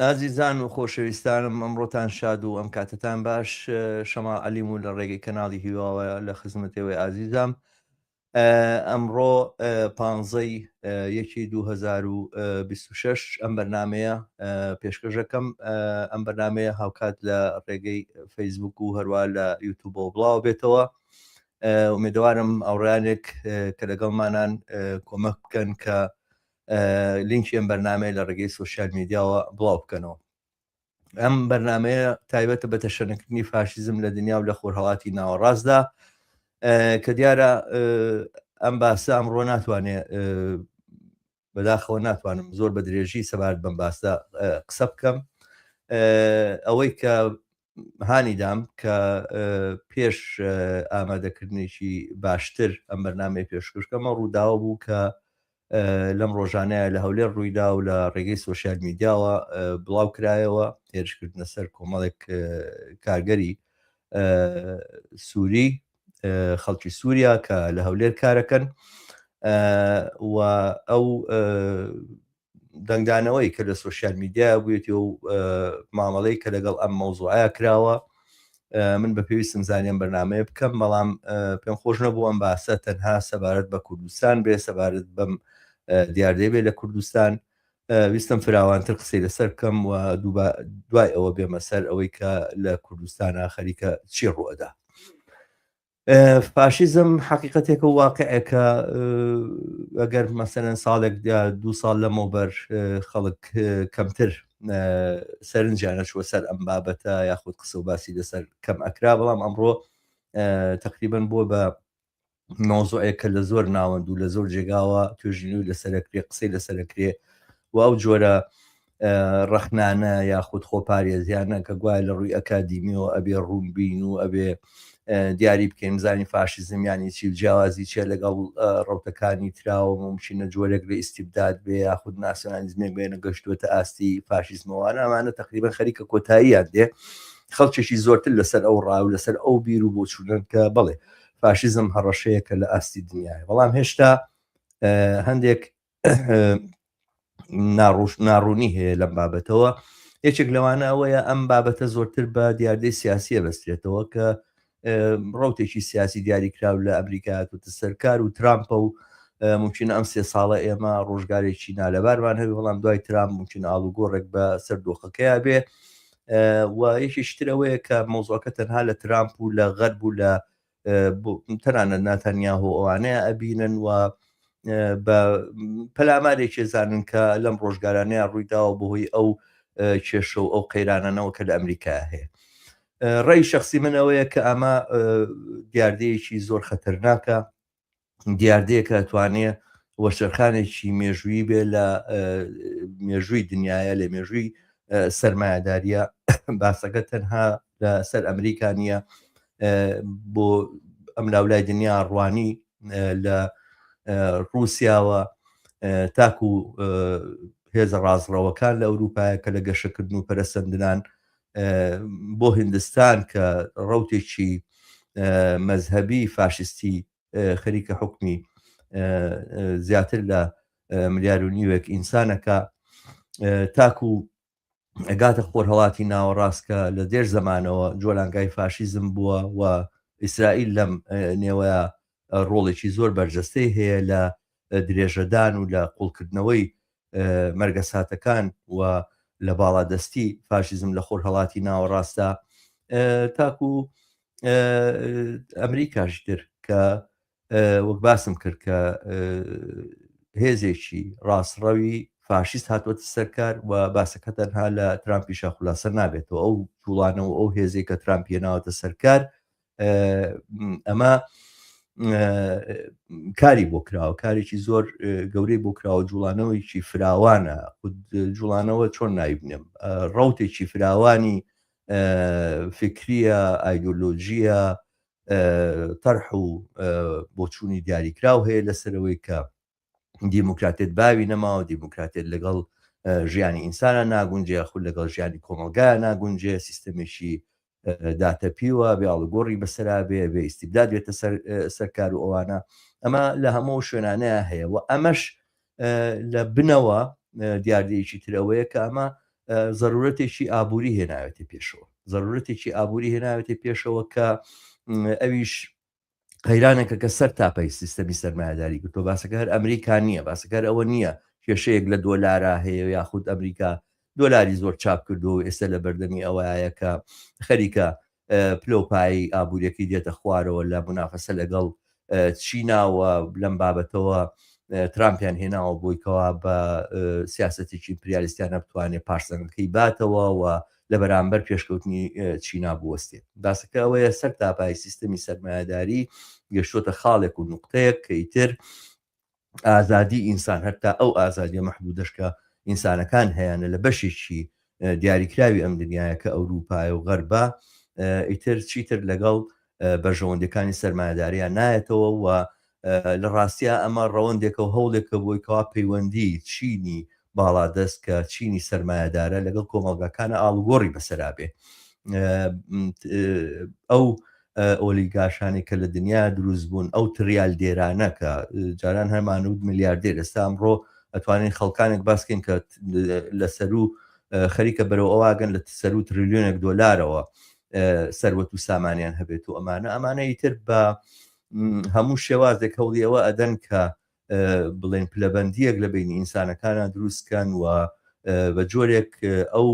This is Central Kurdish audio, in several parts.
ئازیزان و خۆشەویستانم ئەمڕۆتان شاد و ئەم کاتتان باش شەما عەلیم و لە ڕێگەی کەناڵی هیواوە لە خزمەتەوەی ئازیزام ئەمڕۆ پانزەی یەکی 2026 ئەم بەرنمەیە پێشکەشەکەم ئەم بەرنمەیە هاوکات لە ڕێگەی فەیسبوک و هەروە لە یوتوب و بڵاو بێتەوە ئومێدەوارم ئەوڕانێک کە لەگەڵمانان کۆمەک بکەن کە لینکی ئەم بەرنمەیە لە ڕێگەی سوسیال میدیاوە بڵاو بکەنەوە ئەم بەرنمەیە تایبەتە بە تەشەنکردنی فاشیزم لە دنیا و لە خۆرهڵاتی ناوەڕاستدا کە دیارە ئەم باسە ئەمڕۆ ناتوانێت بەداخەوە ناتوانم زۆر بە درێژی سەبارەت بەم باسدا قسە بکەم ئەوەی کە هانی دام کە پێش ئامادەکردنێکی باشتر ئەم بەرنمەی پێشکوشکەمە ڕووداوە بوو کە لەم ڕۆژانەیە لە هەولێر ڕوویدا و لە ڕێگەی سوۆسیال میدیاوە بڵاو کرایەوە هێرشکردنە سەر کۆمەڵێک کارگەری سووری خەڵکی سووریا کە لە هەولێر کارەکەن و ئەو دەنگدانەوەی کە لە سوۆسیال میدیایە بووێتی و مامەڵەی کە لەگەڵ ئەم مەوزوعە کراوە من بە پێویستم زانیم بەنامەیە بکەم بەڵام پێم خۆش نەبوو ئەم باسە تەنها سەبارەت بە کوردستان بێ سەبارەت بەم دیاردەی بێ لە کوردستان ویستم فراوانتر قسەی لەسەر بکەم و دوای ئەوە بێمە سەر ئەوەی کە لە کوردستانە خەریکە چی ڕوەدا فاشیزم حقیقەتێکە واقعێکە ئەگەر مەسەرەن ساڵێک دو ساڵ لەمەوبەر خەڵک کەمتر سەرنجیانە چوە سەر ئەم بابەتە یاخود قسە و باسی لەسەر کەم ئەکرا بەڵام ئەمڕۆ تقریبن بۆ بە نۆزۆەکە لە زۆر ناوەند و لە زۆر جێگاوە توێژنی و لەسەرکرێ قسەی لەسەرکرێ و ئەو جۆرە ڕەخنانە یاخود خۆپارێزیانە کە گوایە لە ڕووی ئەکادیمیەوە ئەبێ ڕوونبین و ئەبێ دیاری بکەین زانی فاشیزم یانی چی جیاوازی چیە لەگەڵ ڕوتەکانی تراوە ممکنە جۆرێک لە ئیسیبداد بێ یاخود ناسیۆنالیزمێک بێنە گەشتوێتە ئاستی فاشیزمەوانە ئەمانە تقریبا خەریکە کۆتاییان دێ خەڵکێکی زۆرتر لەسەر ئەو ڕاو لەسەر ئەو بیر و بۆچوونن کە بڵێ فاشیزم هەڕەشەیەکە لە ئاستی دنیاە بەڵام هێشتا هەندێک ناڕوش ناڕوونی هەیە لەم بابەتەوە یەکێک لەوانە ئەوەیە ئەم بابەتە زۆرتر بە دیاردەی سیاسیە بەسترێتەوە کە ڕوتێکی سیاسی دیاری کراو لە ئەمریکا و سەرکار و ترامپە و ممکن ئەم سێ ساڵە ئێمە ڕۆژگارێکی نالەبارمان هەوی بەڵام دوای ترام ممکن ئاڵوگۆڕێک بە سەر دۆخەکەیا بێ و یەکیشترەوەیە کە مۆزۆکە تەنها لە ترامپ و لە غەرب و لە تەنانەت ناتەنیاهۆ ئەوانەیە ئەبینن و بە پەلامارێکی زانن کە لەم ڕۆژگارانەیە ڕوویداوە بەهۆی ئەو کێشە و ئەو قەیرانەوە کە لە ئەمریکا هەیە ڕێی شخصی منەوەیە کە ئەمە دیاردەیەکی زۆر خەتەرناکە دیاردەیەکە توانێ وەرچەرخانێکی مێژووی بێ لە مێژووی دنیاە لە مێژووی سرمایهداریە باسەکە تەنها لە سەر ئەمریکا نیە بۆ ئەم لاولای دنیا ڕوانی لە رووسیاوە تاکو هێزە ڕاستڕەوەکان لە ئەوروپایە کە لە گەشەکردن و پەرسەندنان بۆ هندستان کە ڕوتێکی مەذهبی فاشستی خەریکە حکمی زیاتر لە ملیار و نیوێک ئینسانەکە تاکو ئەگاتە خۆرهڵاتی ناوەڕاست کە لە دێر زمانەوە جۆلانگای فاشیزم بووە و ئیسرائیل لەم نێوەیە ڕۆڵێکی زۆر بەرجەستەی هەیە لە درێژەدان و لە قوڵکردنەوەی مەرگەساتەکان و لە باڵادەستی فاشیزم لە خۆرهەڵاتی ناوەڕاستدا تاکو ئەمریکاش تر کە وەک باسم کرد کە هێزێکی ڕاستڕەوی فاشیست هاتوەتە سەرکار و باسەکە تەنها لە ترامپیشە خولاسەر نابێتەوە ئەو جوڵانەوە ئەو هێزێک کە ترامپیە ناوەتە سەرکار ئەمە کاری بۆ کراوە کارێکی زۆر گەورەی بۆ کراوە جوڵانەوەیکی فراوانە جوڵانەوە چۆن نایبنێم ڕوتێکی فراوانی فکریە ئایدۆلۆژیە تەرح و بۆچوونی دیاریکراو هەیە لەسەرەوەی کە دیموکراتێت باوی نەماوە دیموکراتێت لەگەڵ ژیانی ئینسانە ناگونجێ خود لەگەڵ ژیانی کۆمەلگا ناگونجێ سیستەمێکی داتەپیوە بێ ئاڵگۆڕی بەسرا بێ بێ ئیسیبداد بێتە سەرکار و ئەوانە ئەمە لە هەموو شوێنانەیە هەیە و ئەمەش لە بنەوە دیاردەیەکی ترەوەیە کە ئەمە ضرورەتێکی ئابووری هێناوێتە پێشەوە ضرورەتێکی ئابووری هێناوێتە پێشەوە کە ئەویش قەیرانێکە کە سەر تاپەی سیستەمی سەرمایهداری گرتۆ باسەکە هەر ئەمریکا نییە باسەکەر ئەوە نییە کێشەیەک لە دۆلارا هەیە یاخود ئەمریکا دۆلاری زۆر چاپ کردو و ئێستا لە بەردەمی ئەوەیە کە خەریکە پلۆپایی ئابوووریەکەی دێتە خوارەوە لە منافەسە لەگەڵ چیناوە لەم بابەتەوە ترامپیان هێناوە بۆیکەوە بە سیاستێکی پریالیستیانە بتوانێت پارسەنەکەی باتەوە و لەبەرامبەر پێشکەوتنی چینا بوەستێت. باسەکە ئەوەیە سەر تاپای سیستەمی سەرمایەداری گەشتۆتە خاڵێک و نوقتەیەک کە ئیتر ئازادی ئینسان هەتا ئەو ئازادیە مەحدودەش کە ئینسانەکان هەیانە لە بەشێکی دیاریکراوی ئەم دنیایە کە ئەوروپایە و غەربە ئیتر چیتر لەگەڵ بەرژەوەندیەکانی سەرمایەداریان نایەتەوە و لە ڕاستیا ئەمە ڕەوەندێکە و هەوڵێکە بۆی کەوا پەیوەندی چینی باڵادەست کە چینی سەرمایەدارە لەگەڵ کۆمەڵگاکانە ئاڵوگۆڕی بەسەرابێ ئەو ئۆلیگاشانی کە لە دنیا دروست بوون ئەو تریال دێرانە کە جاران هەمانود ملیاردێر ئێستا ئەمڕۆ ئەتوانین خەڵکانێک باسکەین کە لە سەرو خەریکە بەرەوە ئەوواگەن لە سەرو تریلیۆنێک دۆلارەوە سەروەت و سامانیان هەبێت و ئەمانە ئەمانە ئیتر بە هەموو شێوازێک هەوڵی ئەوە ئەدەن کە بڵێن پلەبندیەک لە بینی ئینسانەکانە دروستکەن و بە جۆرێک ئەو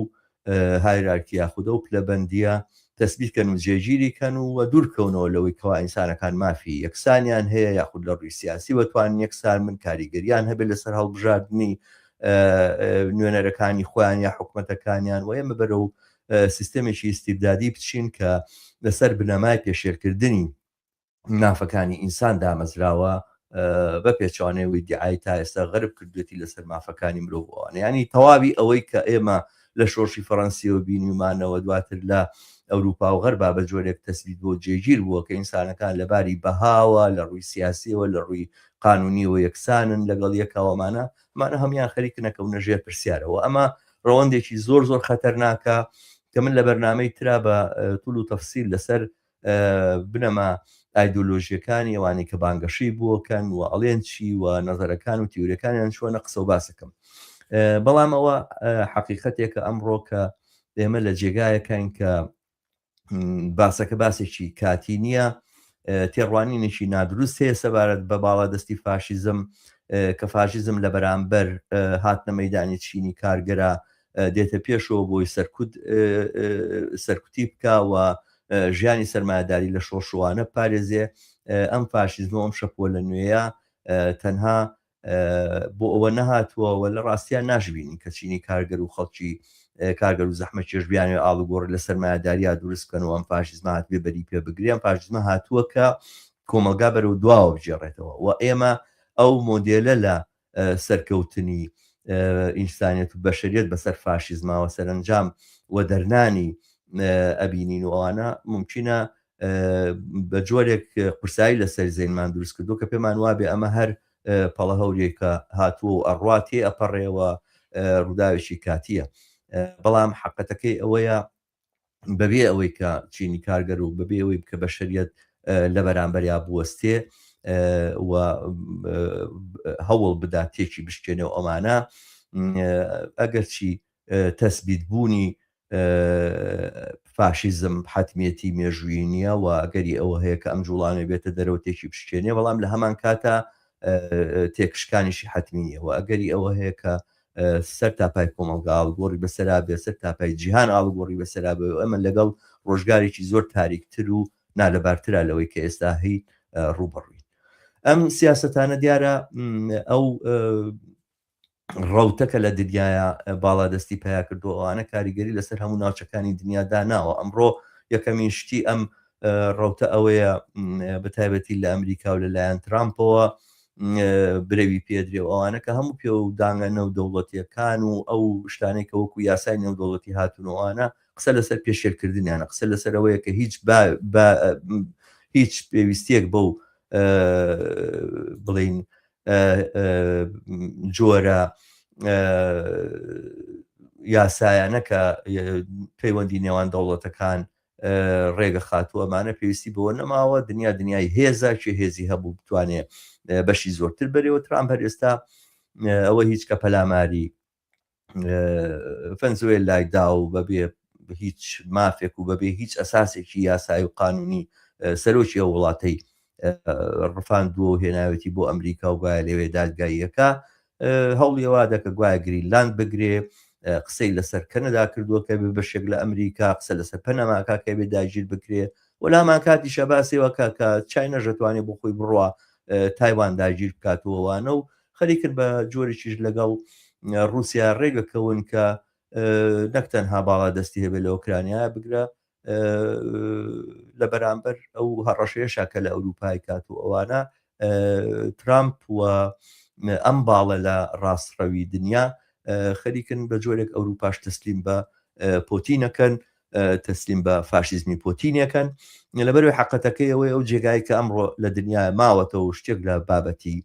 هایرارکی یاخودە و پلەبندیە تەسبیکەن و جێگیری کەن و وە دوورکەونەوە لەوەی کەوا ئینسانەکان مافی یەکسانیان هەیە یاخود لە ڕووی سیاسی وەتوان یەکسان من کاریگەریان هەبێت لەسەر هەڵبژاردننی نوێنەرەکانی خۆیان یا حکوومەتەکانیان و ئێمە بەرە و سیستەمێکی ئیستیبدادی بچین کە لەسەر بنەمای پێشێلکردنی مافەکانی ئینسان دامەزراوە بە پێچوانەوەی دیعای تا ئێستا غەرب کردوێتی لەسەر مافەکانی مرۆڤوانە ینی تەواوی ئەوەی کە ئێمە لە شۆشی فەڕەنسیەوە بینیمانەوە دواتر لە ئەوروپا و غەربا بە جۆرێک تەسبیت بۆ جێگیر بووە کە ئینسانەکان لە باری بەهاوە لە ڕووی سیاسیەوە لە ڕووی قانونی و یەکسانن لەگەڵ یەکاوەمانە مانە هەمان خەریکنەکەونە ژێر پرسیارەوە ئەمە ڕەوەندێکی زۆر زۆر خەتەرناکە کە من لە بەرنمەی ترا بە تول و تەفسیل لەسەر بنەما ئایدۆلۆژیەکانی ئەوانی کە بانگەشەی بووکەن و ئەڵێن چی و نظرەکان و تیورەکانیان چۆنە قسە و باسەکەم بەڵام ئەوە حقیقەتێکە ئەمڕۆ کە ئێمە لە جێگایەکەین کە باسەکە باسێکی کاتی نییە تێڕوانینێکی نادروست هەیە سەبارەت بە باڵا دەستی فاشیزم کە فاشیزم لە بەرامبەر هاتنە مەدانی چینی کارگەرە دێتە پێشەوە بۆی سەرکوت سەرکوتی بکەوە ژیانی سەرمایداری لە شۆشوانە پارێزێ ئەم فاشیزمە ئەم شەپۆ لە نوێیە تەنها بۆ ئەوە نەهاتووە و لە ڕاستیا ناشبینین کە چینی کارگەر و خەڵکی کارگەر و زەحمە چێش بیانێ ئاڵوگۆڕ لە سەرمایەداریا دروست بکەن و ئەم فاشیزمە هاتبێ بەری پێ بگریان فاشیزمە هاتووە کە کۆمەلگا بەرەو دواوە بگێڕێتەوە و ئێمە ئەو مۆدێلە لە سەرکەوتنی ئینسانیت و بەشریت بەسەر فاشیزماوە سەرنجام و دەرنانی ئەبینین و ئەوانە ممکنە بە جۆرێک قورسایی لەسەر زەینمان دروست کردووە کە پێمان وابێ ئەمە هەر پەڵە هەورێکە هاتووە و ئەڕوا تێ ئەپەڕێەوە ڕووداوێکی کاتیە بەڵام حقەتەکەی ئەوەیە بەبێ ئەوەی کە چینی کارگەر و بەبێ ئەوەی بکە بەشریت لە بەرامبەریا بوەستێ و هەوڵ بدا تێکی بشکێنێ و ئەمانە ئەگەرچی تەسبیت بوونی فاشیزم حەتمیەتی مێژوویی نییە و ئەگەری ئەوە هەیە کە ئەم جوڵانەوە بێتە دەرەوە تێکی بشکێنێ بەڵام لە هەمان کاتا تێکشکانیشی حەتمی نییە و ئەگەری ئەوە هەیە کە سەر تاپای کۆمەڵگا ئاڵگۆڕی بەسەرا بێ سەر تاپای جیهان ئاڵگۆڕی بەسەرا بێ ئەمە لەگەڵ ڕۆژگارێکی زۆر تاریکتر و نالەبارترا لەوەی کە ئێستا هەی ڕوبڕوین ئەم سیاستانە دیارە ئەو ڕەوتە کە لە دنیایا باڵادەستی پەیا کردووە ئەوانە کاریگەری لەسەر هەموو ناوچەکانی دنیا داناوە ئەمڕۆ یەکەمین شتی ئەم ڕەوتە ئەوەیە بەتایبەتی لە ئەمریکا و لەلایەن ترامپەوە برەوی پێدرێ و ئەوانە کە هەموو پێ و داگە نەودەوڵەتیەکان و ئەو شتانەی کە وەکو یاسای نێودەوڵەتی هاتونەوەوانە قسە لەسەر پێشێلکردنیانە قسە لەسەرەوەیە کە هیچ هیچ پێویستیەک بەو بڵین جۆرە یاسایانە کە پەیوەندی نێوان دەوڵەتەکان ڕێگە خاتوو ئەمانە پێویستی بەوە نەماوە دنیا دنیای هێزە چێ هێزی هەبوو بتوانێت بەشی زۆرتر بەرەوە ترام هەر ئێستا ئەوە هیچ کە پەلاماری فەنزوێلای دا و بەبێ هیچ مافێک و بەبێ هیچ ئەساسێکی یاسایی و قانونی سەرۆکی ئەو وڵاتەی ڕفاندووە و هێناوێتی بۆ ئەمریکا و گوایە لەوێ دادگاییەکە هەوڵیەوە دەکە گوایە گرینلاند بگرێ قسەی لەسەر کەنەدا کردووە کە بێ بەشێک لە ئەمریکا قسە لەسەر پەنەماکە کە بێ داگیر بکرێ وەلامان کاتی شەباسێەوە کە کە چای نەژەتوانێ بۆ خۆی بڕە تایوان داگیر بکاتەوەوانە و خەریکن بە جۆرێکیش لەگەڵ رووسیا ڕێگەکەون کە نەک تەنها باڵا دەستی هەبێت لە ئۆکرانیا بگرە لە بەرامبەر ئەو هەڕەشەیەشا کە لە ئەوروپای کات و ئەوانە ترامپ و ئەم باڵە لە ڕاستڕەوی دنیا خەریکن بە جۆرێک ئەوروپاش تەسلیم بە پۆتینەکەن تەسلیم بە فاشیزمی پۆتینەکەن لەبەروی حقەتەکەی ئەوەی ئەو جێگای کە ئەمڕۆ لە دنیا ماوەتەوە شتێک لە بابەتی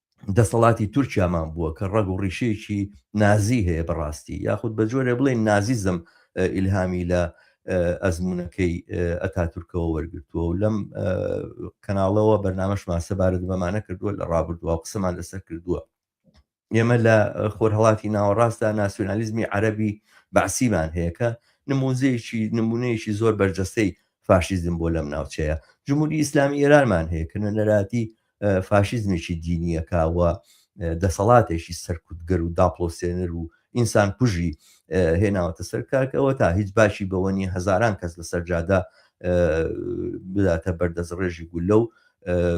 دەسەڵاتی تورکیامان بووە کە ڕەگ و ڕیشەیەکی نازی هەیە بەڕاستی یاخود بە جۆرێ بڵێ نازیزم ئیلهامی لە ئەزمونونەکەی ئەتا تورکەوە وەرگتووە و لەم کەناڵەوە بەرنمەشمان سەبارەت بەمانە کردووە لە ڕابردووە قسەمان لەسەر کردووە ئێمە لە خۆرهڵاتی ناوەڕاستدا ناسیۆنالیزمی عەربی بەعسیمان هەیەکە نموزەیەکی نمونەیەکی زۆر بەرجەستەی فاشیزم بۆ لەم ناوچەیە جمهوری ئیسلامی ئێرانمان هەیە کە نەراتی فاشیزمێکی دینییەکە و دەسەڵاتێکی سەرکوتگەر و داپڵۆسێنەر و ئینسان کوژی هێناوەتە سەر کارکەوە تا هیچ باشی بەوە نیە هەزاران کەس لەسەر جادە بداتە بەردەست ڕێژی گولە و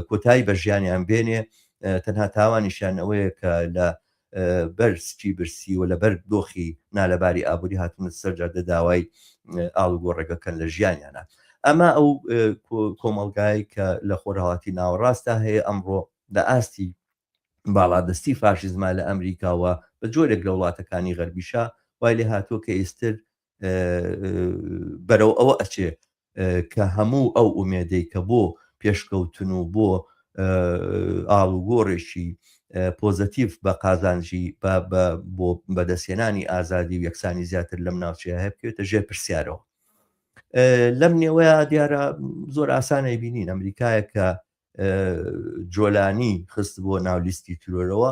کۆتایی بە ژیانیان بێنێ تەنها تاوانیشیان ئەوەیە کە لە بەر سکی برسی و لەبەر دۆخی نالەباری ئابووری هاتوونەتە سەر جادە داوای ئاڵوگۆڕێک دەکەن لە ژیانیانا. ئەمە ئەو کۆمەڵگایەی کە لە خۆرهەڵاتی ناوەڕاستدا هەیە ئەمڕۆ لە ئاستی باڵادەستی فاشیزما لە ئەمریکا و بە جۆرێک لە وڵاتەکانی غەربیشا وای لێهاتووە کە ئیستر بەرەو ئەوە ئەچێ کە هەموو ئەو ئومێدەی کە بۆ پێشکەوتن و بۆ ئاڵوگۆڕێکی پۆزەتیف بە قازانجی بۆ بەدەستێنانی ئازادی و یەکسانی زیاتر لەم ناوچەیە هەیە بکرێتە ژێر پرسیارەوە لەم نێوەیە دیارە زۆر ئاسانەی بینین ئەمریکایە کە جۆلانی خست بۆ ناولیستی ترۆرەوە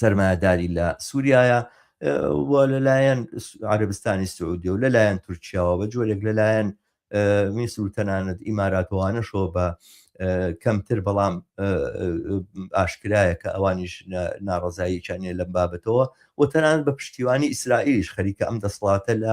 سەرمایەداری لە سووریایە و لەلایەن عربستانی سعودی و لەلایەن تورکیاوە بە جۆرێک لەلایەن میسر و تەنانەت ئیماراتوانەشەوە بە کەمتر بەڵام ئاشکرایە کە ئەوانیش ناڕزاییانە لەم بابەتەوە و تەنان بە پشتیوانی ئیسرائیلیش خەریکە ئەم دەسڵاتە لە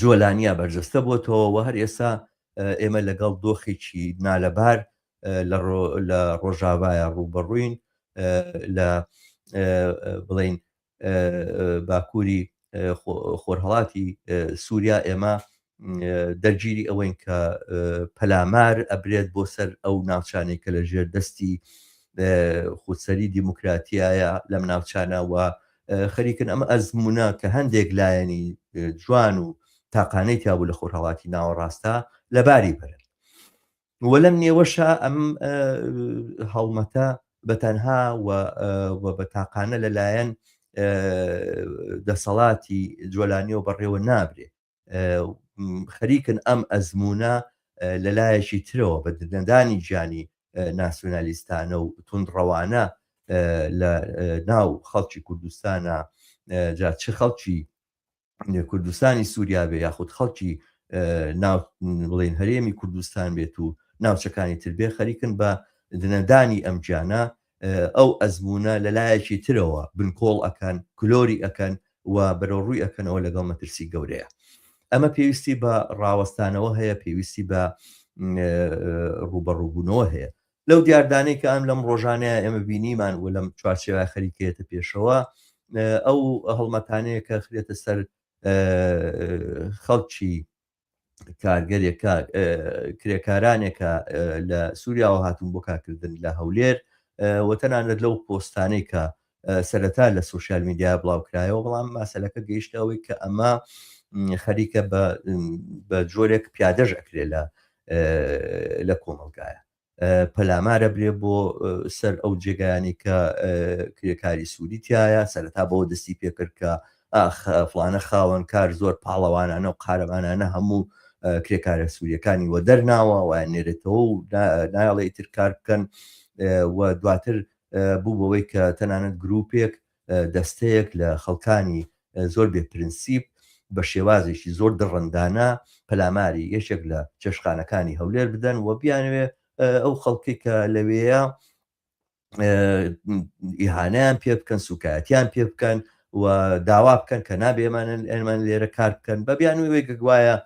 جۆلانیا بەرجەستە بۆتەوە و هەر ئێستا ئێمە لەگەڵ دۆخێکی نالەبار لە ڕۆژاوایە ڕووبەڕووین لە بڵین باکووری خۆرهڵاتی سووریا ئێمە دەرگیری ئەوەین کە پەلامار ئەبرێت بۆ سەر ئەو ناوچانێک کە لە ژێر دەستی خودسەری دیموکراتیایە لەم ناوچانەوە خەریکن ئەم ئەزمونە کە هەندێک لایەنی جوان و تاقانەی تیابوو لە خۆرهاواتی ناوەڕاستە لەباری بەرن و لەم نێوەشە ئەم هەڵمەتە بەتەنها بە تاقانە لەلایەن دەسەڵاتی جۆلانیەوە بەڕێوە نابرێت خەریکن ئەم ئەزموونە لە لایەکی ترەوە بە دنەدانی گیانی ناسیۆنالیستانە و تونڕەوانە لە ناو خەڵکی کوردستانە جا چ خەڵکی کوردستانی سووریا بێ یاخود خەڵکی بڵێن هەرێمی کوردستان بێت و ناوچەکانی تربێ خەریکن بە دنەدانی ئەم گیانە ئەو ئەزموونە لە لایەکی ترەوە بنکۆڵ ئەکەن، کلۆری ئەکەن و بەرەوڕووی ئەکەنەوە لەگەڵ مەترسی گەورەیە. ئەمە پێویستی بە ڕاوەستانەوە هەیە، پێویستی بە ڕووبەڕووبوونەوە هەیە. لەو دیاردانەی کە ئەم لەم ڕۆژانەیە ئێمە بینیمان و لەم چوارچێوە خەریکەیەتە پێشەوە، ئەو هەڵمەتانەیە کە خرێتە سەر خەڵکی کارگەرێکە کرێکارانێکە لە سووریاوە هاتون بۆ کارکردن لە هەولێر وەتەنانەت لەو پۆستانەی کە سەرەتا لە سوسیال میدیا بڵاوکرایەوە بەڵام ماسەلەکە گەیشتەوەی کە ئەمە خەریکە بە جۆرێک پیادەش ئەکرێ لە لە کۆمەلگایە پەلامارە برێ بۆ سەر ئەو جێگایانی کە کرێکاری سوودی تایە سەرەتا بۆ دەستی پێکرد کە ئافلانە خاوەن کار زۆر پاڵەوانانە و قارەمانانە هەموو کرێکارە سووریەکانی وە دەرناوە وایان نێرێتەوە و نایڵێ تر کار بکەن و دواتر بوو بەوەی کە تەنانەت گرروپێک دەستەیەک لە خەڵکانی زۆر بێ پرنسیپ بە شێوازێکی زۆر دڕندانە پەلاماری یەکێک لە چێشخانەکانی هەولێر بدەن و بیانوێ ئەو خەڵکی کە لەوێە ئیهانیان پێ بکەن سوکایەتیان پێ بکەن و داوا بکەن کە نابێمانن ئەمان لێرە کار بکەن بە بیان وێ گەگوایە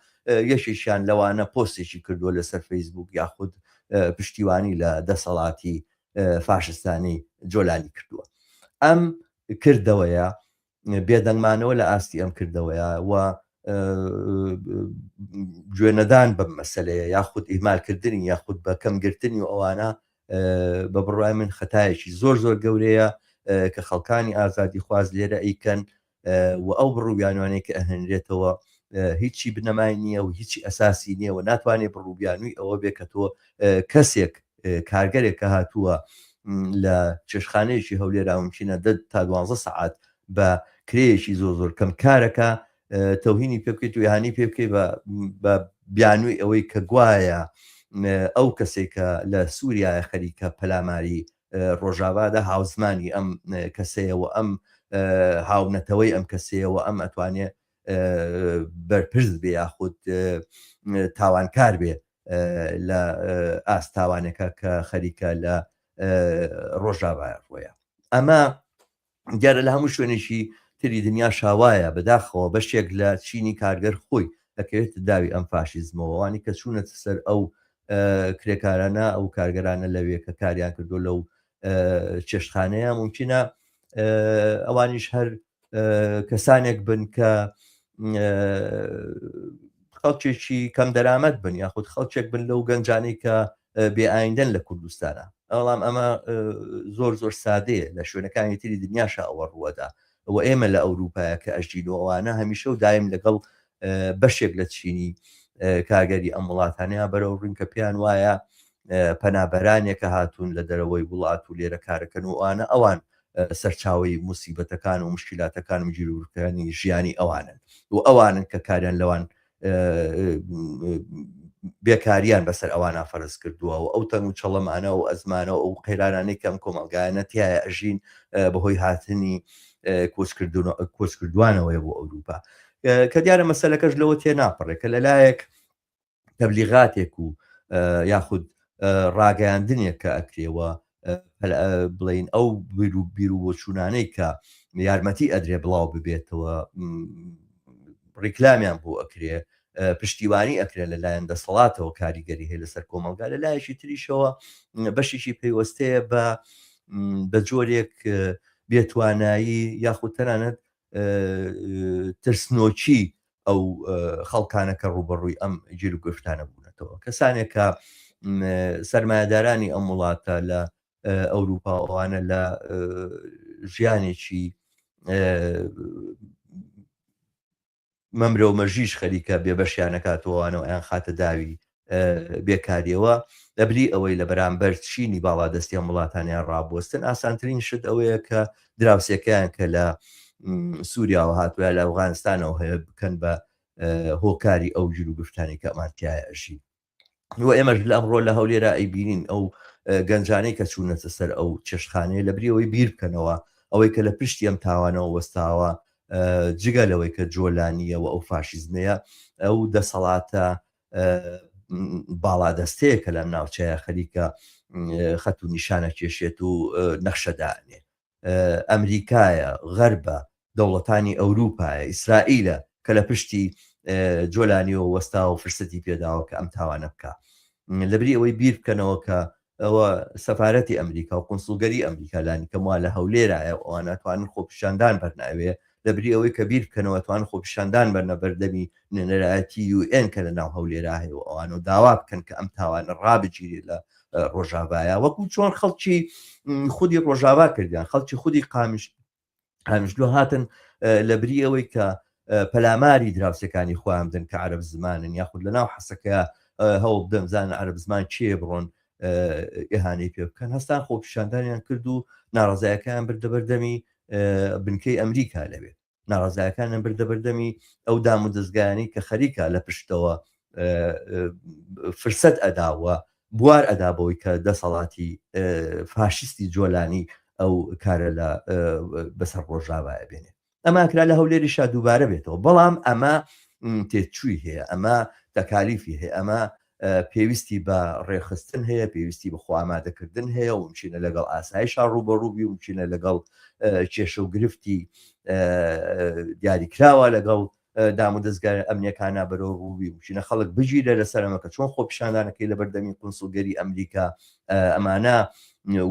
یەشیشیان لەوانە پۆستێکی کردووە لەسەر فەیسبوک یاخود پشتیوانی لە دەسەڵاتی فاشستانی جۆلانی کردووە ئەم کردەوەیە بێدەنگمانەوە لە ئاستی ئەم کردەوەیە و گوێنەدان بەم مەسلەیە یاخود ئیمالکردنی یاخود بە کەمگرتنی و ئەوانە بە بڕای من خەتایەکی زۆر زۆر گەورەیە کە خەڵکانی ئازادی خواز لێرە ئەیکەن و ئەو بڕوبیانوانەی کە ئەهێنرێتەوە هیچی بنەمای نییە و هیچی ئەساسی نییە و ناتوانێ بڕوبیانوی ئەوە بێ کە تۆ کەسێک کارگەرێک کە هاتووە لە چێشخانەیەکی هەولێرا ممکنە دە تا دوانزە سەعات بە کرێیەکی زۆر زۆر کەم کارەکە تەوهینی پێ بکەیت و یهانی پێ بکەی بە بیانوی ئەوەی کە گوایە ئەو کەسێکە لە سووریایە خەریکە پەلاماری ڕۆژاڤادا هاوزمانی ئەم کەسەیە و ئەم هاونەتەوەی ئەم کەسەیە و ئەم ئەتوانێ بەرپرس بێ یاخود تاوانکار بێ لە ئاست تاوانەکە کە خەریکە لە ڕۆژاڤایە ڕۆیە ئەمە دیارە لە هەموو شوێنێکی تری دنیا شاوایە بەداخەوە بەشێک لە چینی کارگەر خۆی دەکەوێت داوی ئەم فاشیزمەوەوانی کە چوونەت سەر ئەو کرێکارانە ئەو کارگەرانە لەوێ کە کاریان کردو لەو چێشتخانەیە ممکنە ئەوانیش هەر کەسانێک بن کە خەڵکێکی کەم دەرامەت بن یاخود خەڵکێک بن لەو گەنجانی کە بێ ئایندەن لە کوردستانا. بەڵام ئەمە زۆر زۆر سادەیە لە شوێنەکانی تری دنیاشا ئەوە ڕووەدا و ئێمە لە ئەوروپایا کە ئەژین و ئەوانە هەمیشە و دایم لەگەڵ بەشێک لە چینی کارگەری ئەم وڵاتانەیە بەرەو ڕووین کە پێیان وایە پەنابەرانێکە هاتوون لە دەرەوەی وڵات و لێرە کارەکەن و ئەوانە ئەوان سەرچاوی موسیبەتەکان و مشکلاتەکان و جیرورکانی ژیانی ئەوانن و ئەوانن کە کاریان لەوان بێکارییان بەسەر ئەوانا فەرز کردووە و ئەو تەنگ و چەڵەمانە و ئەزمانە و ئەو قەیرانانەی کە ئەم کۆمەڵگایانە تیایە ئەژین بەهۆی هاتنی کۆچکردوانەوەیە بۆ ئەوروپا کە دیارە مەسەلەکەش لەوە تێ ناپەڕێ کە لەلایەک تەبلیغاتێک و یاخود ڕاگەیاندنێک کە ئەکرێەوە بڵین ئەو بیر و بیر و بۆچوونانەی کە یارمەتی ئەدرێ بڵاو ببێتەوە ڕیکلامیان بۆ ئەکرێ پشتیوانی ئەکرێت لە لایەن دەسەڵاتەوە کاریگەری هەیە لەسەر کۆمەلگا لە لایەکی تریشەوە بەشێکی پەیوەستەیە بە بە جۆرێک بێتوانایی یاخود تەنانەت ترسنۆکی ئەو خەڵکانە کە ڕوبەڕووی ئەم گیر و گفتانە بوونەتەوە کەسانێک کە سرمایهدارانی ئەم وڵاتە لە ئەوروپا ئەوانە لە ژیانێکی مەمرەو مەژیش خەریکە بێبەشیانەکاتەوەوانەوە ئەیان خاتە داوی بێکاریەوە، لەبری ئەوەی لە بەرامبەر چینی باڵادەستی ئەم وڵاتانیان ڕابوەستن، ئاسانترین شت ئەوەیە کە دراوسێکەیان کە لە سووریاوە هاتووە لە ئەوغانستانەوە هەیە بکەن بە هۆکاری ئەو جلو گفتانی کە ئەمانتیایە ئەژی و ئێمەش لە ئەمڕۆ لە هەولێرا ئەیبینین ئەو گەنجانەی کە چوونەتە سەر ئەو چێشخانەیە لە بریەوەی بیر بکەنەوە ئەوەی کە لە پشتی ئەم تاوانەوە وەستاوە جگە لەوەی کە جۆلانیەوە ئەو فاشیزمەیە ئەو دەسەڵاتە باڵادەستەیە کە لەم ناوچەیە خەریکە خەت و نیشانە کێشێت و نەخشەدانێ ئەمریکایە غەربە دەوڵەتانی ئەوروپایە ئیسرائیلە کە لە پشتی جۆلانیەوە وەستا و فرسەتی پێداوە کە ئەم تاوانە بکە لەبری ئەوەی بیر بکەنەوە کە ئەوە سەفارەتی ئەمریکا و قونسڵگەری ئەمریکا لانیکەم وا لە هەولێرایە و ئەوان ناتوانن خۆپیشاندان بەرناوێ لەبری ئەوەی کە بیر بکەنەوە توان خۆپیشاندان بەرنە بەردەمی نوێنەرایەتی یو ئێن کە لە ناو هەولێرا هەیە و ئەوان و داوا بکەن کە ئەم تاوانە ڕابگیرێ لە ڕۆژاڤایە وەکو چۆن خەڵکی خودی ڕۆژاوا کردیان خەڵکی خودی قامیش هەمیشلو هاتن لە بری ئەوەی کە پەلاماری دراوسەکانی خۆیان بدەن کە عرب زمانن یاخود لە ناو حەسەکە هەوڵ بدەن زانن عرب زمان چێ بڕۆن ئێهانەی پێ بکەن هەستان خۆپیشاندانیان کرد و ناڕزایەکان بردەبەردەمی بنکەی ئەمریکا لەوێ ناڕزایەکانیان بردەبەردەمی ئەو دام و دەستگایانی کە خەریکە لە پشتەوە فرسەت ئەداوە بوار ئەدا بەوەی کە دەسەڵاتی فاشیستی جۆلانی ئەو کارە لە بەسەر ڕۆژاوایە بێنێ ئەما کرا لە هەولێریشا دووبارە بێتەوە بەڵام ئەمە تێچووی هەیە ئەمە تەکالیفی هەیە ئەمە پێویستی بە ڕێخستن هەیە پێویستی بە خوامادەکردن هەیە و چینە لەگەڵ ئاسایشا ڕوبەڕوبی و چینە لەگەڵ کێشە و گرفتی دیاریکراوە لەگەڵ دامودەزگا ئەمنیەکانە بەرەو ڕووی بچینە خەڵک بگیرە لەسەر ئەمە کە چۆن خۆپیشاندانەکەی لە بەردەمی قونسڵگەری ئەمریکا ئەمانە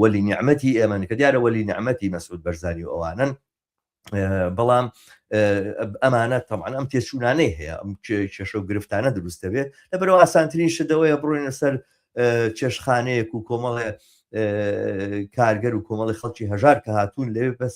وەلی نیعممەتی ئێمەن کە دیارە وەلی نیعممەتی مەسعود بەرزانی و ئەوانن بەڵام ئەمانە تەمان ئەم تێچوونانەی هەیە ئەم کێشە و گرفتانە دروستەوێ لە بەرەوە ئاسانترین شدەوەیە بڕۆینە سەر چێشخانەیەک و کۆمەڵێ کارگەر و کۆمەڵی خەڵکی هەژار کە هاتوون لەوێ بەس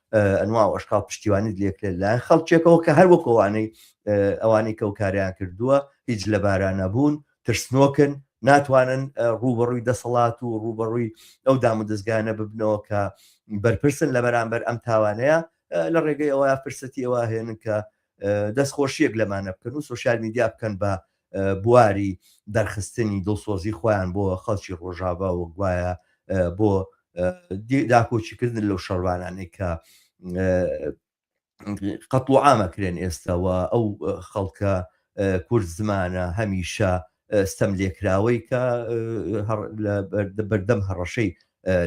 ئەنوا و ئەشکاڵ پشتیوانیت لێکرێت لە خەڵکێکەوە کە هەر وەک ئەوانەی ئەوانەی کە و کاریان کردووە هیچ لە بارانەبوون ترسنۆکن ناتوانن ڕوبەڕووی دەسەڵات و ڕوبەڕووی ئەو دام و دەستگانە ببنەوە کە بەرپرسن لە بەرامبەر ئەم تاوانەیە لە ڕێگەی ئەوە فرسەتی ئەوە هێنن کە دەستخۆشیەک لەمانە بکەن و سوسیال میدیا بکەن بە بواری دەرخستنی دڵسۆزی خۆیان بۆ خەڵکی ڕۆژاڤا و گوایە بۆ داکۆکیکردن لەو شەڕوانانەی کە قەتڵ و ئامەکرێن ئێستاوە ئەو خەڵکە کورد زمانە هەمیشە ستەم لێکراوەی کە بەردەم هەڕەشەی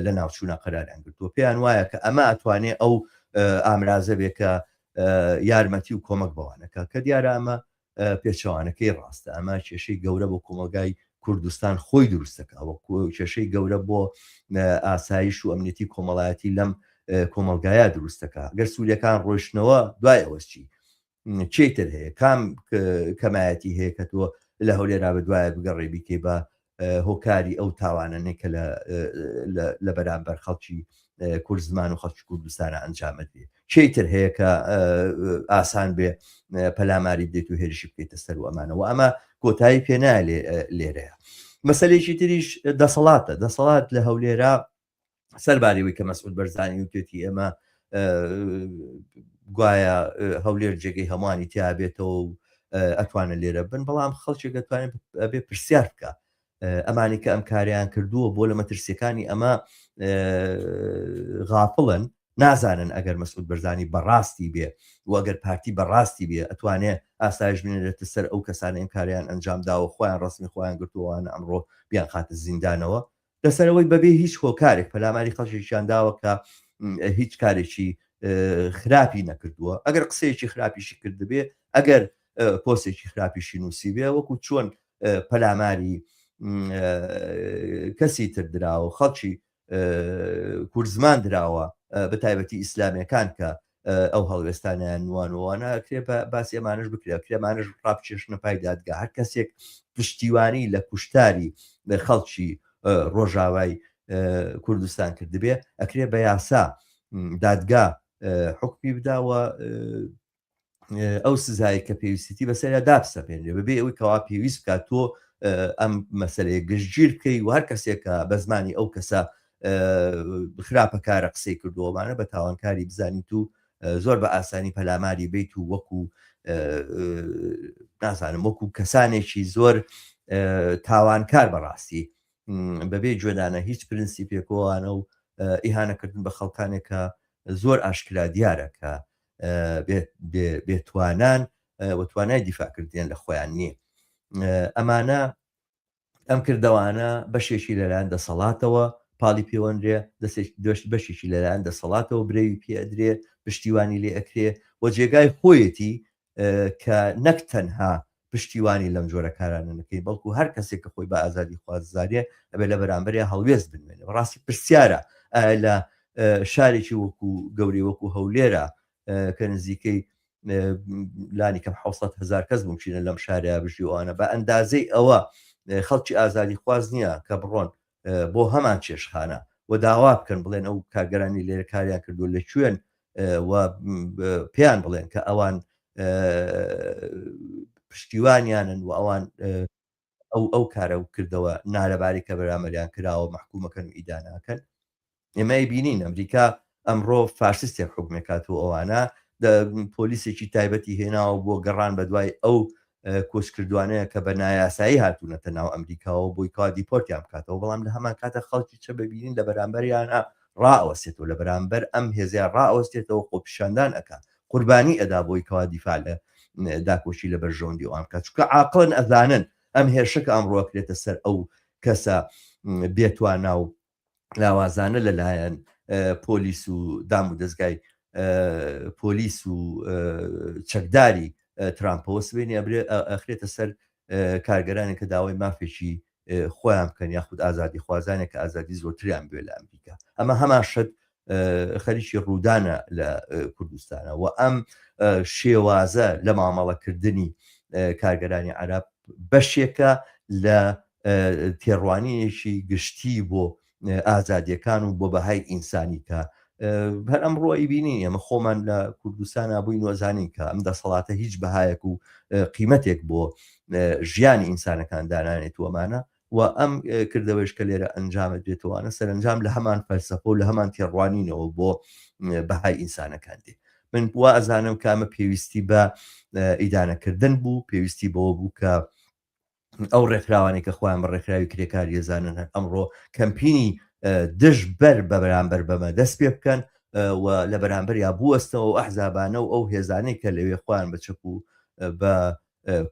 لە ناوچوونە قەراریان گرتووە پێیان وایە کە ئەمە ئەتوانێ ئەو ئامرازە بێکە یارمەتی و کۆمەک بەوانەکە کە دیارە ئەمە پێچەوانەکەی ڕاستە، ئەمە کێشەی گەورە بۆ کۆمەڵگای کوردستان خۆی دروستەکەوە کێشەی گەورە بۆ ئاسایش و ئەمنیەتی کۆمەڵایەتی لەم کۆمەلگایە دروستەکە گەر سوولەکان ڕۆشتنەوە دوای ئەوەستی چیتر هەیە کام کەمایەتی هەیە کە تۆ لە هەولێرا بە دوایە بگەڕێ بیکەی بە هۆکاری ئەو تاوانەنێ کە لە بەرامبەر خەڵکی کورد زمان و خەڵکی کوردستانە ئەنجامەتی کێی تر هەیە کە ئاسان بێ پەلاماری دێت و هێرشی بکەیتە سەر و ئەمانەوە ئەمە کۆتایی پێنایە لێرەیە مەسلێکی تریش دەسەڵاتە دەسەڵات لە هەولێرا سەرباریەوەی کە مەسعود بەرزانی وتێتی ئێمە گوایە هەولێر جێگەی هەمووانی تیابێتەوە و ئەتوانە لێرە بن بەڵام خەڵکێک دەتوانێت بێ پرسیار بکە ئەمانی کە ئەم کاریان کردووە بۆ لە مەترسیەکانی ئەمە غافڵن نازانن ئەگەر مەسعود بەرزانی بەڕاستی بێ و ئەگەر پارتی بەڕاستی بێ ئەتوانێ ئاسایش بنێتە سەر ئەو کەسانە ئەم کاریان ئەنجام داوە خۆیان ڕسمی خۆیان گرتووانە ئەمڕۆ بیان خاتە زیندانەوە لەسەر ئەوەی بەبێ هیچ هۆکارێک پەلاماری خەڵکێکیان داوە کە هیچ کارێکی خراپی نەکردووە ئەگەر قسەیەکی خراپیشی کردبێ ئەگەر پۆسێکی خراپیشی نووسی بێ وەکو چۆن پەلاماری کەسی تر دراوە خەڵکی کورزمان دراوە بە تایبەتی ئیسلامیەکان کە ئەو هەڵوێستانیان نوانوانە کرێ بە باسی ئەمانش بکرێت کرێمانش ڕاپچێشنە پای دادگا هەر کەسێک پشتیوانی لە کوشتاری خەڵکی ڕۆژاوای کوردستان کردبێ ئەکرێ بە یاسا دادگا حکمی بداوە ئەو سزای کە پێویستی بەسەریا دابسەپێنێ بەبێ ئەوی کەوا پێویست بکات تۆ ئەم مەسلەیە گشتگیر بکەی و هەر کەسێکە بە زمانی ئەو کەسە خراپە کارە قسەی کردووەمانە بە تاوانکاری بزانیت و زۆر بە ئاسانی پەلاماری بیت و وەکو نازانم وەکو کەسانێکی زۆر تاوانکار بەڕاستی بەبێ جۆدانە هیچ پرنسی پێکۆوانە و ئیهانەکردن بە خەڵکانێکە زۆر ئاشکرا دیارە کە بێتوانان وتوانای دیفاکردیان لە خۆیان نییە ئەمانە ئەم کردەوانە بەشێکی لەلایەن دەسەڵاتەوە پاڵی پێوەنرێ دەست بەشێکی لەلایەن دەسەڵاتەوە برەوی پێدرێ پشتیوانی لێ ئەکرێ و جێگای خۆیەتی کە نەک تەنها پشتیوانی لەم جۆرە کارانە نەکەی بەڵکو هەر کەسێک کە خۆی بە ئازادی خواززانێ ئەبێ لە بەرامبەرێ هەڵوێست بنوێنێ ڕاستی پرسیارە لە شارێکی وەکو گەوری وەکو هەولێرە کە نزیکەی لانی کەم حوسەت هزار کەس ممکنە لەم شارە بژیوانە بە ئەندازەی ئەوە خەڵکی ئازادی خواز نییە کە بڕۆن بۆ هەمان چێشخانە و داوا بکەن بڵێن ئەو کارگەرانی لێرە کاریان کردو لە کوێن و پێیان بڵێن کە ئەوان پشتیوانیانن و ئەوان ئەو ئەو کارە و کردەوە نالەباری کە بەرامبەریان کراوە مەحکووم ئەکەن و ئیدانە ئەکەن. ئێمە ئەیبینین ئەمریکا ئەمڕۆ فاشستێک حوکم ئەکات و ئەوانە پۆلیسێکی تایبەتی هێناوە بۆ گەڕان بە دوای ئەو کۆچکردوانەیە کە بە نایاسایی هاتوونەتە ناو ئەمریکاوە بۆی کا دیپۆرتیان بکاتەوە بەڵام لە هەمان کاتە خەڵکی چە ببینین لە بەرامبەریانە ڕائەوەستێتەوە لە بەرامبەر ئەم هێزیان ڕائەوەستێتەوە خۆپیشاندان ئەکات قوربانی ئەدا بۆی کەوا دیفاع لە داکۆکی لە بەرژەوەندی ئەوان بکات چونکە عاقڵن ئەزانن ئەم هێرشە کە ئەمڕۆ ئەکرێتە سەر ئەو کەسە بێتوانا و لاوازانە لەلایەن پۆلیس و دام و دەستگای پۆلیس و چەکداری ترامپەوە سبێنی ئەبرێ ئەخرێتە سەر کارگەرانی کە داوای مافێکی خۆیان بکەن یاخود ئازادی خوازانێک کە ئازادی زۆرتریان بێ لە ئەمریکا ئەمە هەمان شت خەریکی ڕوودانە لە کوردستانە و ئەم شێوازە لە مامەڵەکردنی کارگەرانی عرب بەشێکە لە تێڕوانینێکی گشتی بۆ ئازادیەکان و بۆ بەهای ئینسانی کە هەر ئەم ڕۆی بینی ئێمە خۆمان لە کوردستان نبووی نۆزانین کە ئەم دەسەڵاتە هیچ بەهایەک و قیمەتێک بۆ ژیانی ئینسانەکان دانانێت وەمانە و ئەم کردەوەش کە لێرە ئەنجامە دێتوانە سەرنجام لە هەمان فەلسەفە و لە هەمان تێڕوانینەوە بۆ بەهای ئینسانەکان دێ من بووە ئەزانم کامە پێویستی بە ئیدانەکردن بوو پێویستی بەوە بوو کە ئەو ڕێکخراوانەی کە خۆیان بە ڕێکخراوی کرێکاری دەزانن هەر ئەمڕۆ کەمپینی دژ بەر بە بەرامبەر بەمە دەست پێ بکەن و لە بەرامبەر یا بوەستەوە و ئەحزابانە و ئەو هێزانەی کە لەوێ خۆیان بە چەپ و بە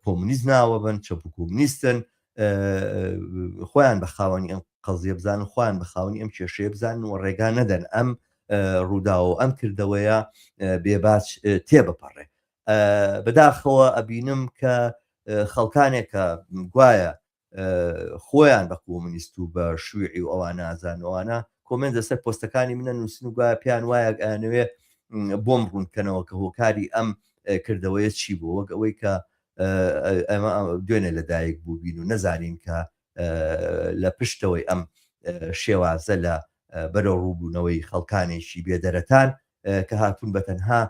کۆمونیست ناوە بن چەپ و کۆمونیستن خۆیان بە خاوەنی ئەم قەزیە بزان و خۆیان بە خاوەنی ئەم کێشەیە بزان و ڕێگا نەدەن ئەم ڕوودا و ئەم کردەوەیە بێباچ تێبپەڕێ بەداخەوە ئەبینم کە خەڵکانێک کە گوایە خۆیان بە کۆمنیست و بە شووعی و ئەوان نازانەوانە کۆمنت لەسەر پۆستەکانی منە نووسن و گوایە پێیان وایە ئەیانەوێ بۆم ڕوونکەنەوە کە هۆکاری ئەم کردەوەیە چی بوو وەک ئەوەی کە ئەمە دوێنێ لەدایک بووبین و نەزانین کە لە پشتەوەی ئەم شێوازە لە بەرەو ڕووبوونەوەی خەڵکانێکی بێ دەرەتان کە هاتوون بە تەنها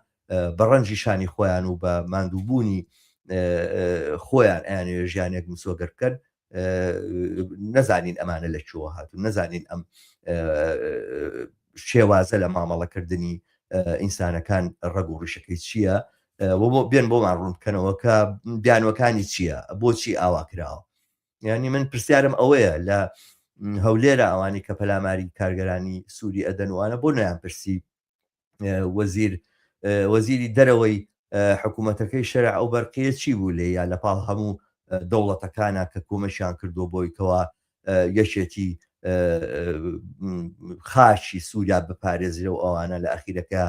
بە ڕەنجی شانی خۆیان و بە ماندووبوونی خۆیان ئەیانێ ژیانێک مسۆگەر بکەن نەزانین ئەمانە لە چۆوە هاتون نەزانین ئەم شێوازە لە مامەڵەکردنی ئینسانەکان ڕەگ و ڕیشەکەی چییە بۆ بێن بۆمان ڕوون بکەنەوە کە بیانوەکانی چییە بۆچی ئاوا کراوە یعنی من پرسیارم ئەوەیە لە هەولێرە ئەوانی کە پەلاماری کارگەرانی سووری ئەدەنوانە بۆ نەیان پرسی وەزیر وەزیری دەرەوەی حکوومەتەکەی شەرع ئەو بەرقیە چی بوو لێ یا لە پاڵ هەموو دەوڵەتەکانە کە کۆمەشیان کردو بۆی کەوا یەکێتی خاچی سووریا بپارێزرە و ئەوانە لە ئەخیرەکە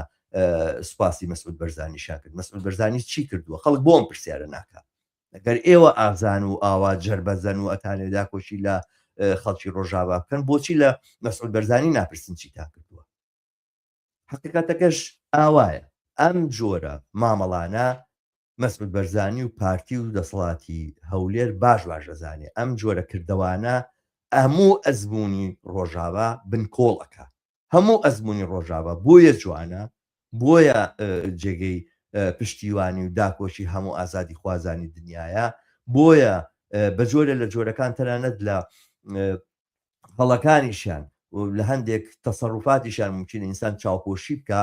سوپاسی مەسعود بەرزانیشان کرد مەسعود بەرزانی چی کردووە خەڵک بۆم پرسیارە ناکە گەر ئێوە ئازان و ئاوا جەربەزەن و ئەتانەوێ داکۆکی لە خەڵکی ڕۆژاڤا بکەن بۆچی لە مەسعود بەرزانی ناپرسن چیتان کردووە؟ حەقیقەتەکەش ئاوایە ئەم جۆرە مامەڵانە مەسعود بەرزانی و پارتی و دەسەڵاتی هەولێر باش باش دەزانێ ئەم جۆرە کردەوانە هەموو ئەزموونی ڕۆژاڤا بنکۆڵ ئەکا هەموو ئەزمونی ڕۆژاڤە بۆیە جوانە بۆیە جێگەی پشتیوانی و داکۆکی هەموو ئازادی خوازانی دنیاە بۆیە بەجۆرە لە جۆرەکان تەنانەت لە هەڵەکانیشیان لە هەندێک تەسەڕوفاتیشان ممکن ئینسان چاوپۆشی بکە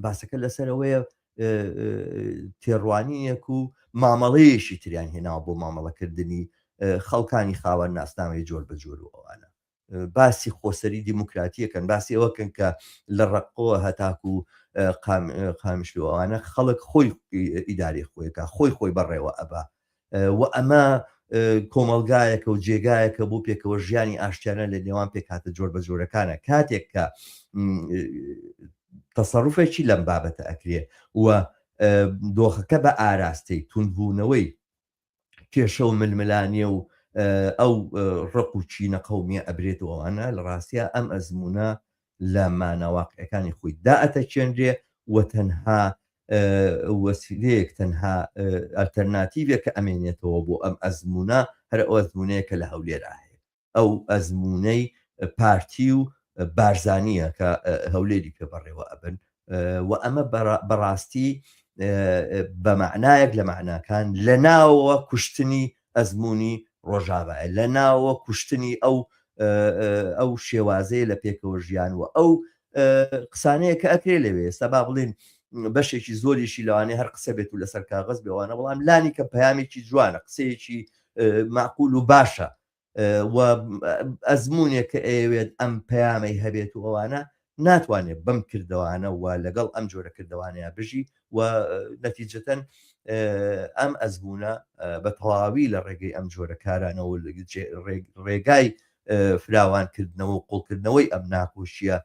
باسەکە لەسەرەوەیە تێڕوانیەک و مامەڵەیەشی تریان هێناوە بۆ مامەڵەکردنی خەڵکانی خاوەن ناسنامەی جۆر بە جۆر و ئەوانە باسی خۆسەری دیموکراتی یەکەن، باسی ئەوە کەن کە لە ڕەققۆوە هەتاکو قامیشلۆ ئەوانە خەڵک خۆی ئیدارەی خۆی کا خۆی خۆی بەڕێوە ئەبا و ئەمە کۆمەڵگایەکە و جێگایەکە بۆ پێکەوە ژیانی ئاشتیانە لە نێوان پێکاتە جۆر بە جۆرەکانە کاتێک کە تەسەڕوفێکی لەم بابەتە ئەکرێ و دۆخەکە بە ئاراستەی تونبوونەوەی کێشە و ململانێ و ئەو ڕق و چینە قەومیە ئەبرێت و ئەوانە لە ڕاستیا ئەم ئەزمونە لە ماناواقعەکانی خۆی دا ئەتەچێنرێ و تەنها وەسیلەیەک تەنها ئەلتەرناتیڤێک کە ئەمێنێتەوە بۆ ئەم ئەزمونە هەر ئەو ئەزمونەیە کە لە هەولێرا هەیە ئەو ئەزموونەی پارتی و بارزانیە کە هەولێری پێ بەڕێوە ئەبن و ئەمە بەڕاستی بە معنایەک لە معناکان لە ناوە کوشتنی ئەزمموی ڕۆژاوایە لە ناوە کوشتنی ئەو ئەو شێوازەیە لە پێکەوە ژیان و ئەو قسانەیە کە ئەکرێ لەوێ ئێستا با بڵین بەشێکی زۆریشی لەوانێ هەر قسە بێت و لەسەر کاغز بێوانە بەڵام لانی کە پامێکی جوانە قسەیەکی معقول و باشە و ئەزمونێک کە ئەیەوێت ئەم پەیامەی هەبێت و ئەوانە ناتوانێت بەم کردوانە و لەگەڵ ئەم جۆرە کردوانەیە بژی و نەتیجەتەن ئەم ئەزبوونە بە تەواوی لە ڕێگەی ئەم جۆرە کارانەوە ڕێگای فراوانکردنەوە و قوڵکردنەوەی ئەم ناکۆشیە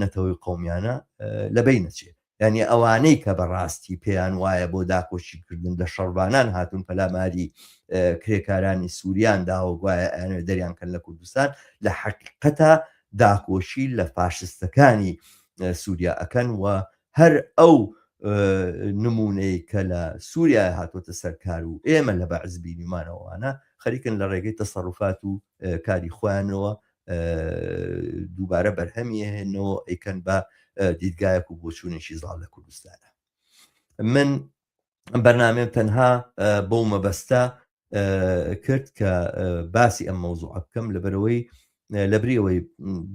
نەتەوەی قومیانە لەبەی نەچێت یانی ئەوانەی کە بە ڕاستی پێیان وایە بۆ داکۆکی کردن لە شەڕڤانان هاتوون پەلاماری کرێکارانی سووریان داوە گوایە ئەیانەوێت دەریان کەن لە کوردستان لە حەقیقەتا داکۆکی لە فاشستەکانی سووریا ئەکەن و هەر ئەو نمونەی کە لە سووریا هاتوۆتە سەرکار و ئێمە لە بەعز بینیمانەوەوانە خەریکن لە ڕێگەی تەسەڕفات و کاری خۆیانەوە دووبارە بەرهەمی هێنەوە ئەیکەن بە دیدگایەک و بۆچوونێکی زاڵ لە کوردستانە من بەرنامێ تەنها بەو مەبەستە کرد کە باسی ئەم مەوزوع بکەم لەبەرەوەی لەبریەوەی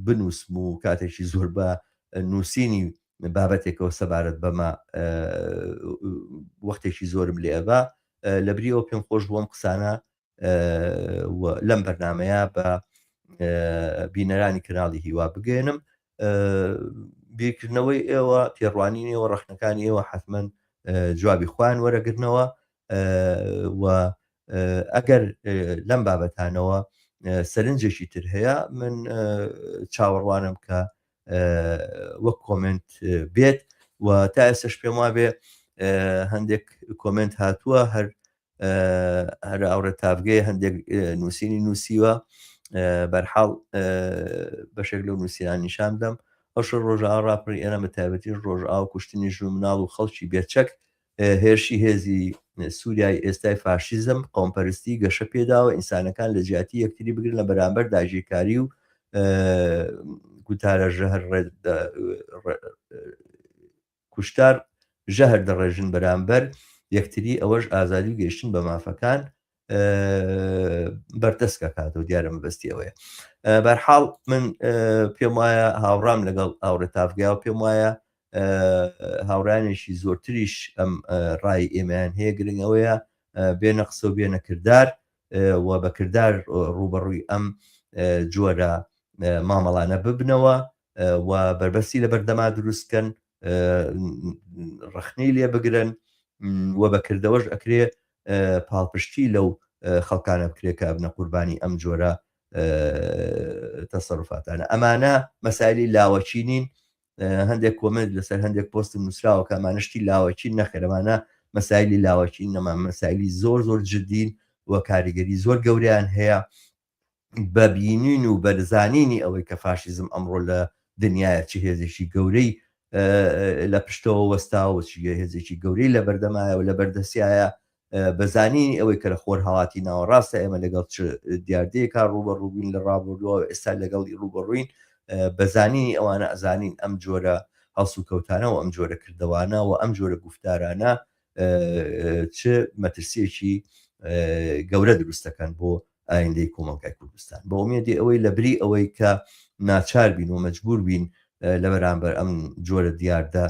بنووسم و کاتێکی زۆر بە نووسینی بابەتێکەوە سەبارەت بەمە وەختێکی زۆرم لێبا لەبریەوە پێم خۆش بووم قسانە و لەم بەرنمەیە بە بینەرانی کەناڵی هیوا بگەێنم بیرکردنەوەی ئێوە تێڕوانینەوە ڕخنەکانی ئێوە حتممەن جوابی خوان وەرەگرنەوە و ئەگەر لەم بابەتانەوە سەرنجێکی تر هەیە من چاوەڕوانم کە وەک کۆمنت بێت و تا ئێسش پێم وابێ هەندێک کۆمنت هاتووە هەر هەر ئاوڕێ تاڤگەیە هەندێک نووسینی نووسیوە بەرحاڵ بەشێک لەو نووسیران نیشان دەم ئەوشە ڕۆژە ڕاپڕی ئێرە بە تایبەتی ڕۆژ ئاو کوشتنی ژو مناڵ و خەڵکی بێچەک هێرشی هێزی سووریای ئێستای فاشیزم قۆمپەرستی گەشە پێداوە ئینسانەکان لە جیاتی یەکتری بگرن لە بەرامبەر داژیرکاری و گوتارە ژەهر کوشتار ژەهر دەڕێژن بەرامبەر یەکتری ئەوەش ئازادی و گەیشتن بە مافەکان بەردەست کاتەوە دیارە مەبەستی ئەوەیە بەرحاڵ من پێم وایە هاوڕام لەگەڵ ئاوڕێ تافگای و پێم وایە هاوڕانێکی زۆرتریش ئەم ڕای ئێمەیان هەیە گرنگ ئەوەیە بێنە قسە و بێنە کردار و بەکردار ڕوبەڕووی ئەم جۆرە مامەڵانە ببنەوە و بەربەستی لەبەر دەما دروست کەن ڕەخنەی لێ بگرن و بە کردەوەش ئەکرێ پاڵپشتی لەو خەڵکانە بکرێت کە ئەبنە قوربانی ئەم جۆرە تەسەرفاتانە ئەمانە مەسایلی لاوەچی نین هەندێک کۆمنت لەسەر هەندێک پۆستم نووسراوە کامانشتی لاوەچین نەخەرمانە مەسایلی لاوەچین نەما مەسایلی زۆر زۆر جدین و کاریگەری زۆر گەوریان هەیە بە بینین و بە زانینی ئەوەی کە فاشیزم ئەمڕۆ لە دنیایە چ هێزێکی گەورەی لە پشتەوە وەستاوە و چ هێزێکی گەورەی لە بەردەمایە و لە بەردەسیایە بە زانینی ئەوەی کە لە خۆرهەڵاتی ناوەڕاستە ئێمە لەگەڵ چ دیاردەیەکە ڕووبەڕووبووین لە ڕابردووە و ئێستا لەگەڵی ڕووبەڕووین بە زانینی ئەوانە ئەزانین ئەم جۆرە هەڵسوکەوتانە و ئەم جۆرە کردەوانە و ئەم جۆرە گفتارانە چ مەترسیەکی گەورە دروست دەکەن بۆ ئایندەی کۆمەڵگای کوردستان بۆ ئومێدی ئەوەی لە بری ئەوەی کە ناچار بین و مەجبور بین لە بەرامبەر ئەم جۆرە دیاردە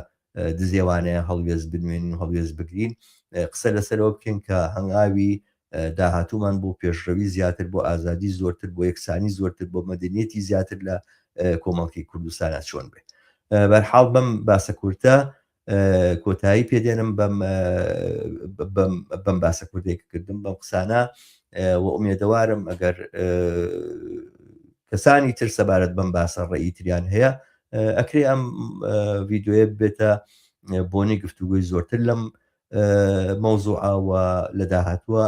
دزێوانەیە هەڵوێز بنوێن و هەڵوێز بگرین قسە لەسەرەوە بکەین کە هەنگاوی داهاتومان بۆ پێشڕەوی زیاتر بۆ ئازادی زۆرتر بۆ یەکسانی زۆرتر بۆ مەدەنیەتی زیاتر لە کۆمەڵکی کوردستانە چۆن بێت بەرحاڵ بەم باسە کورتە کۆتایی پێ دێنم بەم بەم باسە کوردێک کردم بەم قسانە و ئومێدەوارم ئەگەر کەسانی تر سەبارەت بەم باسە ڕێی تریان هەیە ئەکرێ ئەم ڤیددیوە بێتە بۆنی گفتوگوی زۆرتر لەم مەوزوعاوە لە داهاتووە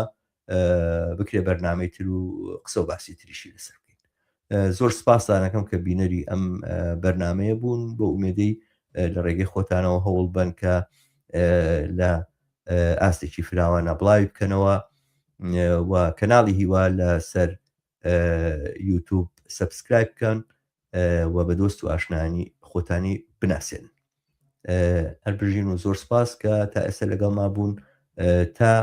بکرێ بەرنامەی تر و قسە و باسی تریشی لەسەر بکەین زۆر سپاسانەکەم کە بینەری ئەم بەرنمەیە بوون بۆ ئومێدەی لە ڕێگەی خۆتانەوە هەوڵ بن کە لە ئاستێکی فراوانە بڵاوی بکەنەوە و کەناڵی هیوا لەسەر یوتوب سبسکرایب بکەن و بە دۆست و ئاشنانی خۆتانی بناسێن هەر بژین و زۆر سپاس کە تا ئێستا لەگەڵ ما بوون تا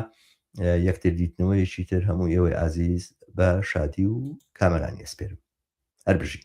یەکتر دیتنەوەیەکی تر هەموو ئێوەی ئازیز بە شادی و کامەرانی ئەسپێرم هەر بژین